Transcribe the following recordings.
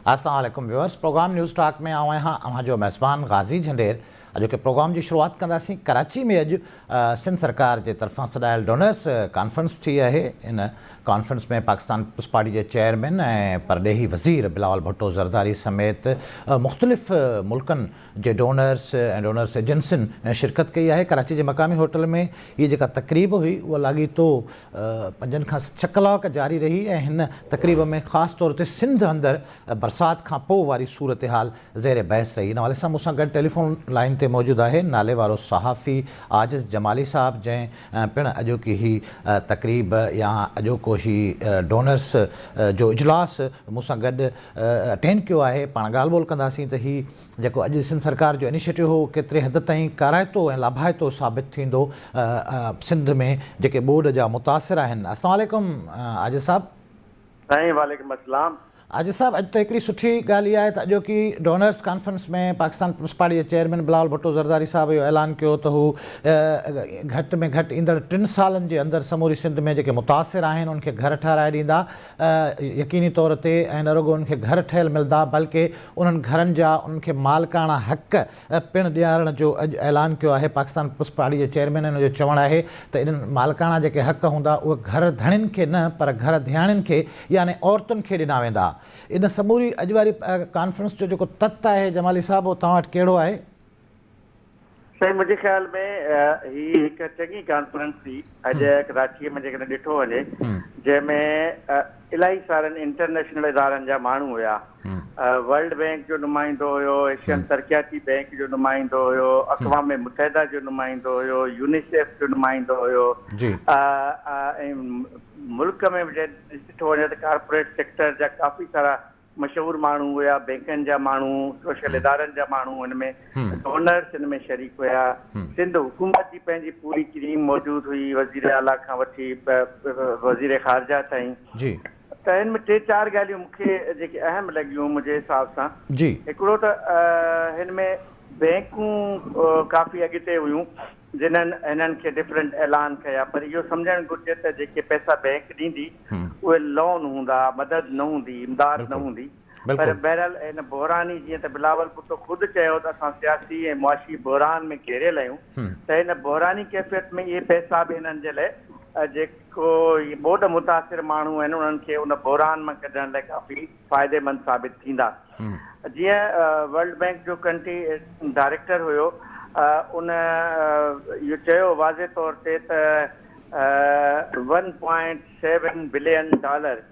السلام عليڪم viewers program News Talk ۾ آئون آهيان اوهان جو ميزبان غازي جهنڊير اڄوڪي پروگرام جي شروعات ڪنداسين ڪراچي ۾ اڄ سنڌ سرڪار جي طرفان سڏايل ڊونرس ڪانفرنس ٿي اهي ان ڪانفرنس ۾ پاڪستان پيپلز پارٽي جي چيئرمين ۽ پرڏيهي وزير بلاول ڀٽو زرداري سميت مختلف ملڪن جي ڊونرس ۽ ڊونرس ايجنسين شرڪت ڪئي آهي ڪراچي جي مقامي هوٽل ۾ هي جيڪا تقريب هئي اها لاڳيتو پنجن کان ڇهه ڪلاڪ جاري رهي ۽ هن تقريب ۾ خاص طور تي سنڌ اندر برسات کان پوء واري صورتحال زير بحث رهي، ان حوالي سان مون سان گڏ ٽيليفون لائين تي موجود آهي ناليوارو صحافي عاجز جمالي صاحب جنهن پڻ اڄوڪي هي تقريب يا اڄوڪو هي ڊونرس جو اجلاس مون سان گڏ اٽينڊ ڪيو آهي پاڻ ڳالهه ٻولهه ڪنداسين ته هي جيڪو اڄ سنڌ سرڪار جو انيشيٽو هو ڪيتري حد تائين ڪارائتو ۽ لاڀائتو ثابت ٿيندو سنڌ ۾ جيڪي ٻوڏ جا متاثر آهن السلام عليڪم عاجز صاحب. سائين وعليڪم اسلام. حاجي صاحب اڄ ته هڪڙي سٺي ڳالهه اها آهي ته اڄوڪي donors conference ۾ Pakistan Peoples Party جي چيئرمين بلاول ڀٽو زرداري صاحب اهو اعلان ڪيو ته هو گهٽ ۾ گهٽ ايندڙ ٽن سالن جي اندر سموري سنڌ ۾ جيڪي متاثر آهن ان کي گهر ٺهرائي ڏيندا يقيني طور تي ۽ نه رڳو انهن کي گهر ٺهيل ملدا بلڪه انهن گهرن جا انهن کي مالڪاڻا حق پڻ ڏيارڻ جو اڄ اعلان ڪيو آهي پاڪستان پريس پارٽي جي چيئرمينن جو چوڻ آهي ته انهن مالڪاڻا جيڪي حق هوندا اهي گهر ڌڻين کي نه پر گهر ڌياڻين کي يعني عورتن کي ڏنا ويندا ان سموري اڄ واري ڪانفرنس جو جيڪو تت آهي جمالي صاحب اهو توهان وٽ ڪهڙو آهي؟ سائين منهنجي خيال ۾ هي هڪ چڱي ڪانفرنس ٿي اڄ ڪراچي ۾ جيڪڏهن ڏٺو وڃي جنهن ۾ الاهي سارن انٽرنيشنل ادارن جا ماڻهو هيا ورلڊ بئنڪ جو نمائندو هيو، ايشين ترقياتي بئنڪ جو نمائندو هيو، اقوام متحده جو نمائندو هيو، يونيسيف جو نمائندو هيو ۽ ملڪ ۾ به ڏٺو وڃي ته ڪارپوريٽ سيڪٽر جا ڪافي سارا مشهور ماڻهو هيا، بئنڪن جا ماڻهو، سوشل ادارن جا ماڻهو هن ۾ ڊونرس هن ۾ شريڪ هيا. سنڌ حڪومت جي پنهنجي پوري ڪريم موجود هئي، وزير اعليٰ کان وٺي وزير خارجه تائين. ته هن ۾ ٽي چار ڳالهيون مون کي جيڪي اهم لڳيون منهنجي حساب سان هڪڙو ته هن ۾ بئنڪون ڪافي اڳتي هيون جنهن هنن کي ڊفرنٽ اعلان ڪيا پر اهو سمجهڻ گهرجي ته جيڪي پئسا بئنڪ ڏيندي اهي لون هوندا مدد نه هوندي امداد نه هوندي. پر بهرحال هن بحراني جيئن ته بلاول ڀٽو خود چيو ته اسان سياسي ۽ معاشي بحران ۾ گهيريل آهيون ته هن بحراني ڪيفيت ۾ اهي پئسا به هنن جي لاء جيڪو اهي ٻوڏ متاثر ماڻهو آهن انهن کي ان بحران مان ڪڍڻ لاء ڪافي فائديمند ثابت ٿيندا جيئن ورلڊ بئنڪ جو ڪنٽري ڊائريڪٽر هيو ان اهو چيو واضح طور تي ته one point seven billion dollar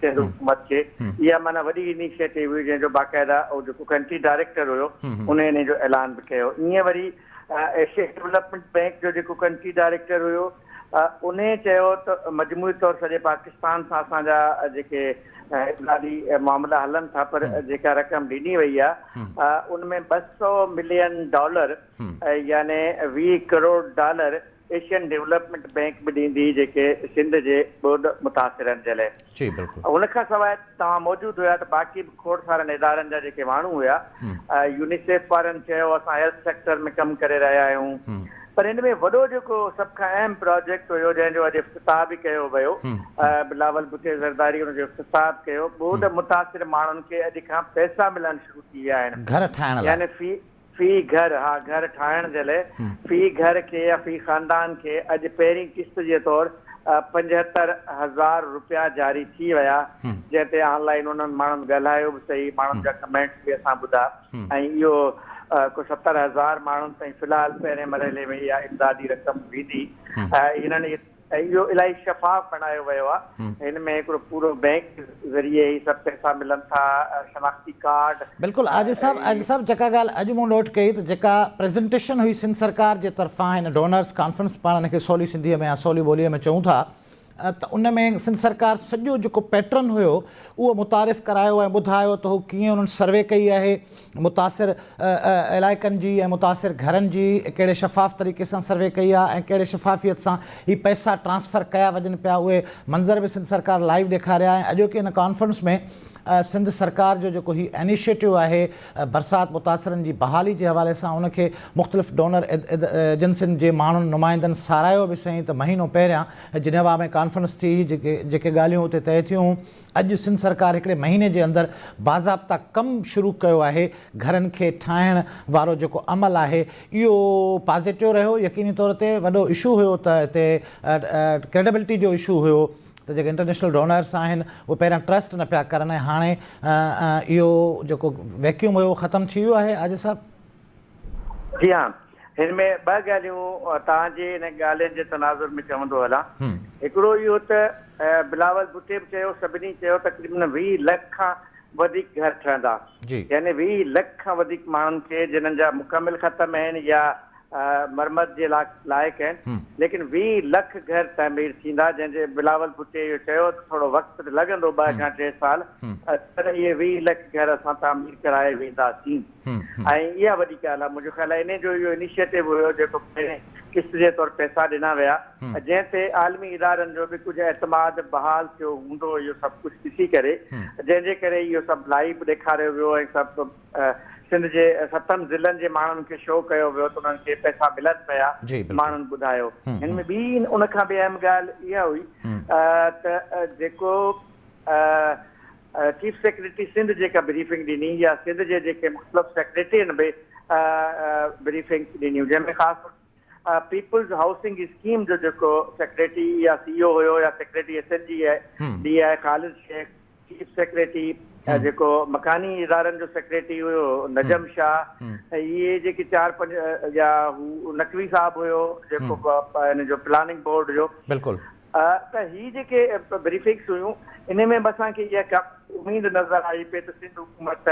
Sindh حڪومت کي اها معنيٰ وڏي انيشيٽو هئي جنهن جو باقاعده هو جيڪو ڪنٽري ڊائريڪٽر هيو ان انهي جو اعلان به ڪيو ايئن وري ايشيا ڊولپمينٽ بئنڪ جو جيڪو ڪنٽري ڊائريڪٽر هيو انهي چيو ته مجموعي طور سڄي پاڪستان سان اسان جا جيڪي اقتصادي معاملا هلن ٿا پر جيڪا رقم ڏني وئي آهي ان ۾ ٻه سؤ ملين ڊالر يعني ويهه crore dollar Asian development bank به ڏيندي جيڪي سنڌ جي ٻوڏ متاثرن جي لئه جي بلڪل. ان کان سواء توهان موجود هيا ته باقي به کوڙ سارن ادارن جا جيڪي ماڻهو هيا يونيسيف وارن چيو اسان هيلٿ سيڪٽر ۾ ڪم ڪري رهيا آهيون پر ان ۾ وڏو جيڪو سڀ کان اهم پراجيڪٽ هيو جنهن جو اڄ افتتاح به ڪيو ويو بلاول ڀٽي زرداري ان جو افتتاح به ڪيو ٻوڏ متاثر ماڻهن کي اڄ کان پئسا ملڻ شروع ٿي ويا آهن گهر ٺاهڻ لاء يعني في في گهر، ها گهر ٺاهڻ جي لئه في گهر کي يا في خاندان کي اڄ پهرين قسط جي طور پنجهتر هزار روپيا جاري ٿي ويا جنهن تي آن لائين انهن ماڻهن ڳالهايو به سهي ماڻهن جا ڪمينٽس به اسان ٻڌا ۽ اهو ڪو ستر هزار ماڻهن تائين في الحال پهرين مرحلي ۾ اها امدادي رقم ويندي هنن اهو الاهي شفاف بڻايو ويو آهي هن ۾ هڪڙو پورو بينڪ ذريعي هي سڀ پئسا ملن ٿا شناختي ڪارڊ. بلڪل عاجز صاحب عاجز صاحب جيڪا ڳالهه اڄ مون نوٽ ڪئي ته جيڪا پريزنٽيشن هئي سنڌ سرڪار جي طرفان هن ڊونرز ڪانفرنس پاڻ هن کي سولي سنڌي ۾ يا سولي ٻولي ۾ چئون ٿا ته ان ۾ سنڌ سرڪار سڄو جيڪو پيٽرن هيو اهو متعارف ڪرايو ۽ ٻڌايو ته هو ڪيئن انهن سروي ڪئي آهي متاثر علائقن جي ۽ متاثر گهرن جي ڪهڙي شفاف طريقي سان سروي ڪئي آهي ۽ ڪهڙي شفافيت سان هي پئسا ٽرانسفر ڪيا وڃن پيا اهي منظر به سنڌ سرڪار لائيو ڏيکاريا ۽ اڄوڪي هن ڪانفرنس ۾ سنڌ سرڪار جو جيڪو هي انيشيٽو آهي برسات متاثرن جي بحالي جي حوالي سان ان کي مختلف ڊونر ايجنسين جي ماڻهن نمائندن ساراهيو به سهين ته مهينو پهريان جنيوا ۾ ڪانفرنس ٿي هئي جيڪي ڳالهيون اتي طئي ٿيون اڄ سنڌ سرڪار هڪڙي مهيني جي اندر باضابطا ڪم شروع ڪيو آهي، گهرن کي ٺاهڻ وارو جيڪو عمل آهي اهو پازيٽو رهيو، يقيني طور تي وڏو اشو هيو ته هتي ڪريڊبلٽي جو اشو هيو ته جيڪي انٽرنيشنل ڊونرس آهن اهي پهريان ٽرسٽ نه پيا ڪرن ۽ هاڻي اهو جيڪو ويڪيوم هيو اهو ختم ٿي ويو آهي آجو صاحب. جي ها. هن ۾ ٻه ڳالهيون توهان جي هن ڳالهين جي تناظر ۾ چوندو هلان. هڪڙو اهو ته بلاول ڀٽي به چيو، سڀني چيو تقريبن ويهه لک کان وڌيڪ گهر ٺهندا. يعني ويهه لک کان وڌيڪ ماڻهن کي جنن جا مڪمل ختم آهن يا مرمت جي لائق آهن ليڪن ويهه لک گهر تعمير ٿيندا جنهن جي بلاول ڀٽي اهو چيو ته ٿورو وقت لڳندو ٻه کان ٽي سال پر اهي ويهه لک گهر اسان تعمير ڪرائي وينداسين. ۽ اها وڏي ڳالهه آهي منهنجو خيال آهي انهي جو اهو انيشيٽو هيو جيڪو پهرين قسط جي طور پئسا ڏنا ويا جنهن تي عالمي ادارن جو به ڪجهه اعتماد بحال ٿيو هوندو اهو سڀ ڪجهه ڏسي ڪري جنهن جي ڪري اهو سڀ لائيو ڏيکاريو ويو ۽ سڀ سنڌ جي ستن ضلعن جي ماڻهن کي شو ڪيو ويو ته انهن کي پئسا ملن پيا ماڻهن ٻڌايو هن ۾ ٻي ان کان به اهم ڳالهه اها هئي ته جيڪو چيف سيڪريٽري سنڌ جيڪا بريفنگ ڏني يا سنڌ جي جيڪي مختلف سيڪريٽرين به بريفنگ ڏنيون جنهن ۾ خاص طور پيپلز هائوسنگ اسڪيم جو جيڪو سيڪريٽري يا سي او هيو يا secretary S N G D I Khalid Shaikh chief secretary جيڪو مڪاني ادارن جو سيڪريٽري هيو نجم شاھ اهي جيڪي چار پنج يا هو نقوي صاحب هيو جيڪو ان جو پلاننگ بورڊ جو بلڪل ته هي جيڪي بريفنگس هيون ان ۾ به اسان کي اها ڪا اميد نظر آئي پئي ته سنڌ حڪومت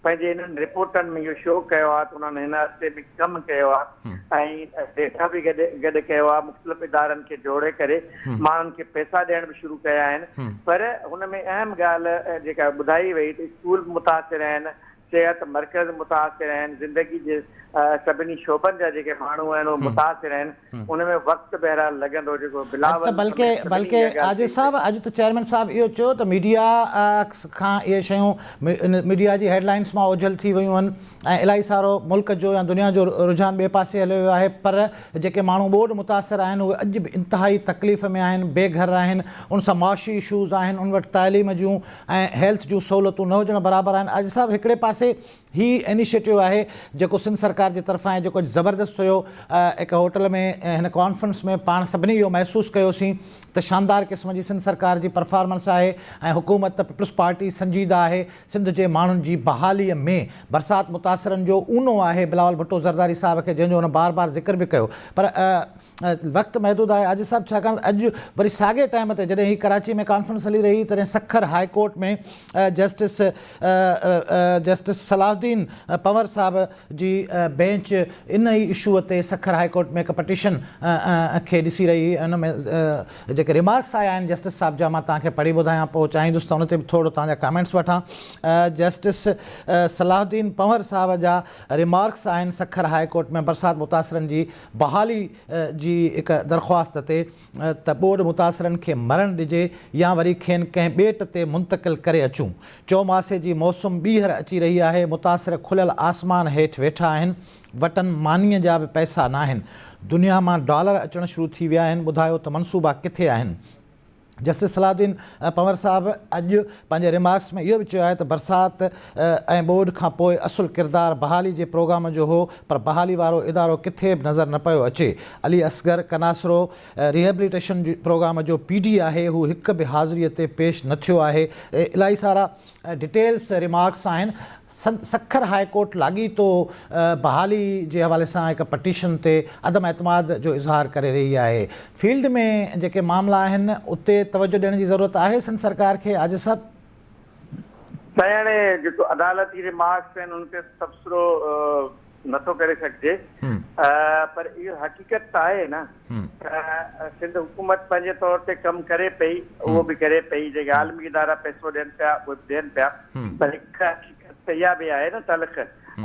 پنهنجي انهن رپورٽن ۾ اهو شو ڪيو آهي ته انهن هن عرصي ۾ ڪم ڪيو آهي ۽ ڊيٽا به گڏ گڏ ڪيو آهي مختلف ادارن کي جوڙي ڪري ماڻهن کي پئسا ڏيڻ به شروع ڪيا آهن پر هن ۾ اهم ڳالهه جيڪا ٻڌائي وئي ته اسڪول به متاثر آهن صحت مرڪز متاثر آهن، زندگي جي سڀني شعبن جا جيڪي ماڻهو آهن اهي متاثر آهن، ان ۾ وقت بهرحال لڳندو جيڪو بلاول سميت سڀني اها ڳالهه چئي ڇڏي. عاجز صاحب اڄ ته چيئرمين صاحب اهو چيو ته ميڊيا کان اهي شيون ميڊيا جي هيڊ لائنس مان اوجهل ٿي ويون آهن ۽ الائي سارو ملڪ جو يا دنيا جو رجحان ٻئي پاسي هليو ويو آهي پر جيڪي ماڻهو ٻوڏ متاثر آهن اهي اڄ به انتهائي تڪليف ۾ آهن بي گهر آهن ان سان معاشي اشوز آهن ان وٽ تعليم جون ۽ هيلٿ جون سهولتون نه هجڻ برابر آهن آجي صاحب هڪڙي پاسي هي انيشيٽو آهي جيڪو سنڌ سرڪار جي طرفان آهي جيڪو اڄ زبردست هيو هڪ هوٽل ۾ هن ڪانفرنس ۾ پاڻ سڀني اهو محسوس ڪيوسين ته شاندار قسم جي سنڌ سرڪار جي پرفارمنس آهي ۽ حڪومت ته پيپلز پارٽي سنجيده آهي سنڌ جي ماڻهن جي بحالي ۾ برسات متاثرن جو اونو آهي بلاول ڀٽو زرداري صاحب کي جنهن جو هن بار بار ذڪر به ڪيو پر وقت محدود آهي آجز صاحب ڇاڪاڻ اڄ وري ساڳئي ٽائيم تي جڏهن هي ڪراچي ۾ ڪانفرنس هلي رهي هئي تڏهن Sukkur high court ۾ justice justice Salahuddin Panhwar صاحب جي بينچ ان ئي اشو تي سکر هاء ڪورٽ ۾ هڪ پٽيشن کي ڏسي رهي هئي ان ۾ جيڪي ريمارڪس آيا آهن جسٽس صاحب جا مان توهان کي پڙهي ٻڌايان پوء چاهيندس ته ان تي به ٿورڙو توهان جا ڪامينٽس وٺان جسٽس صلاح الدين پنور صاحب جا ريمارڪس آهن سکر هاء ڪورٽ ۾ برسات متاثرن جي بحالي جي هڪ درخواست تي ته ٻوڏ متاثرن کي مرڻ ڏجي يا وري کين ڪنهن ٻيٽ تي منتقل ڪري اچون. چوماسي جي موسم ٻيهر اچي رهي آهي، متاثر کليل آسمان هيٺ ويٺا آهن، وٽن مانيء جا به پئسا ناهن، دنيا مان ڊالر اچڻ شروع ٿي ويا آهن، ٻڌايو ته منصوبا ڪٿي آهن؟ جسٽس صلاح الدين پنور صاحب اڄ پنهنجي ريمارڪس ۾ اهو به چيو آهي ته برسات ۽ ٻوڏ کان پوء اصل ڪردار بحالي جي پروگرام جو هو پر بحالي وارو ادارو ڪٿي به نظر نه پيو اچي علي اصغر ڪناسرو ريهبليٽيشن پروگرام جو پي ڊي آهي هو هڪ به حاضري تي پيش نه ٿيو آهي الائي سارا ڊيٽيلز ريمارڪس آهن سکر هاء ڪورٽ لاڳيتو بحالي جي حوالي سان هڪ پٽيشن تي عدم اعتماد جو اظهار ڪري رهي آهي فيلڊ ۾ جيڪي معاملا آهن اتي توجه ڏيڻ جي ضرورت آهي سنڌ سرڪار کي آجي صاحب. سائين هاڻي جيڪو عدالتي ريمارڪس آهن ان تي تبصرو نٿو ڪري سگهجي پر اهو حقيقت ته آهي نه ته سنڌ حڪومت پنهنجي طور تي ڪم ڪري پئي اهو به ڪري پئي جيڪي عالمي ادارا پئسو ڏين پيا اهي به ڏين پيا پر هڪ حقيقت ته اها به آهي نه تلخ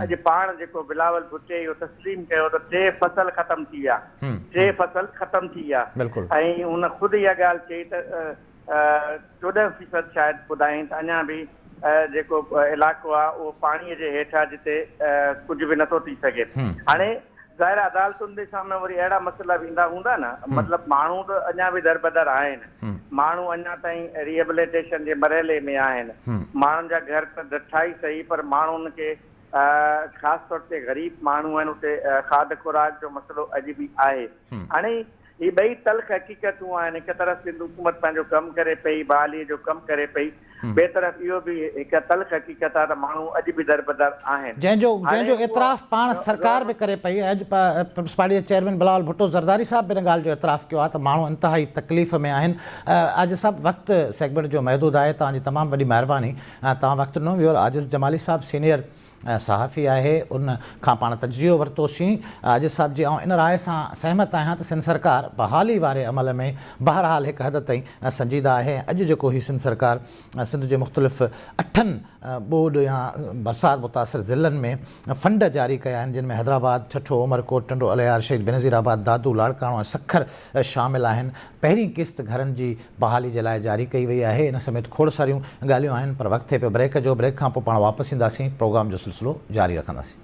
اڄ پاڻ جيڪو بلاول ڀٽي اهو تسليم ڪيو ته ٽي فصل ختم ٿي ويا ٽي فصل ختم ٿي ويا ۽ هن خود اها ڳالهه چئي ته چوڏهن فيصد شايد ٻڌايائين ته اڃا به جيڪو علائقو آهي اهو پاڻي جي هيٺ آهي جتي ڪجهه به نٿو ٿي سگهي هاڻي ظاهر آهي عدالتن جي سامهون وري اهڙا مسئلا به ايندا هوندا نه مطلب ماڻهو ته اڃا به دربدر آهن ماڻهو اڃا تائين ريهبليٽيشن جي مرحلي ۾ آهن ماڻهن جا گهر ته ڊٺا ئي سهي پر ماڻهن کي خاص طور تي غريب ماڻهو آهن اتي کاڌ خوراڪ جو مسئلو اڄ به آهي هاڻي هي ٻئي تلخ حقيقتون آهن، هڪ طرف سنڌ حڪومت پنهنجو ڪم ڪري پئي، بحاليء جو ڪم ڪري پئي، ٻئي طرف اهو به هڪ تلخ حقيقت آهي ته ماڻهو اڄ به دربدر آهن. جنهن جو جنهن جو اعتراف پاڻ سرڪار به ڪري پئي ۽ اڄ پيپلز پارٽيء جي چيئرمين بلاول ڀٽو زرداري صاحب به ان ڳالهه جو اعتراف ڪيو آهي ته ماڻهو انتهائي تڪليف ۾ آهن. عاجز صاحب وقت سيگمينٽ جو محدود آهي، توهان جي تمام وڏي مهرباني توهان وقت ڏنو. ويور عاجز جمالي صاحب سينيئر صحافي آهي ان کان پاڻ تجزيو ورتوسين عاجز صاحب جي آئون ان راء سان سهمت آهيان ته سنڌ سرڪار بحالي واري عمل ۾ بهرحال هڪ حد تائين سنجيده آهي ۽ اڄ جيڪو هي سنڌ سرڪار سنڌ جي مختلف اٺن ٻوڏ يا برسات متاثر ضلعن ۾ فنڊ جاري ڪيا آهن جن ۾ حيدرآباد ٺٺو عمرڪوٽ ٽنڊو الهيار شهيد بينظير آباد دادو لاڙڪاڻو ۽ سکر شامل آهن پهرين قسط گهرن جي بحالي جي لاء جاري ڪئي وئي آهي ان سميت کوڙ ساريون ڳالهيون آهن پر وقت ٿئي پيو بريڪ جو بريڪ کانپو پاڻ واپس اينداسين پروگرام جو سلسلو جاري رکنداسين.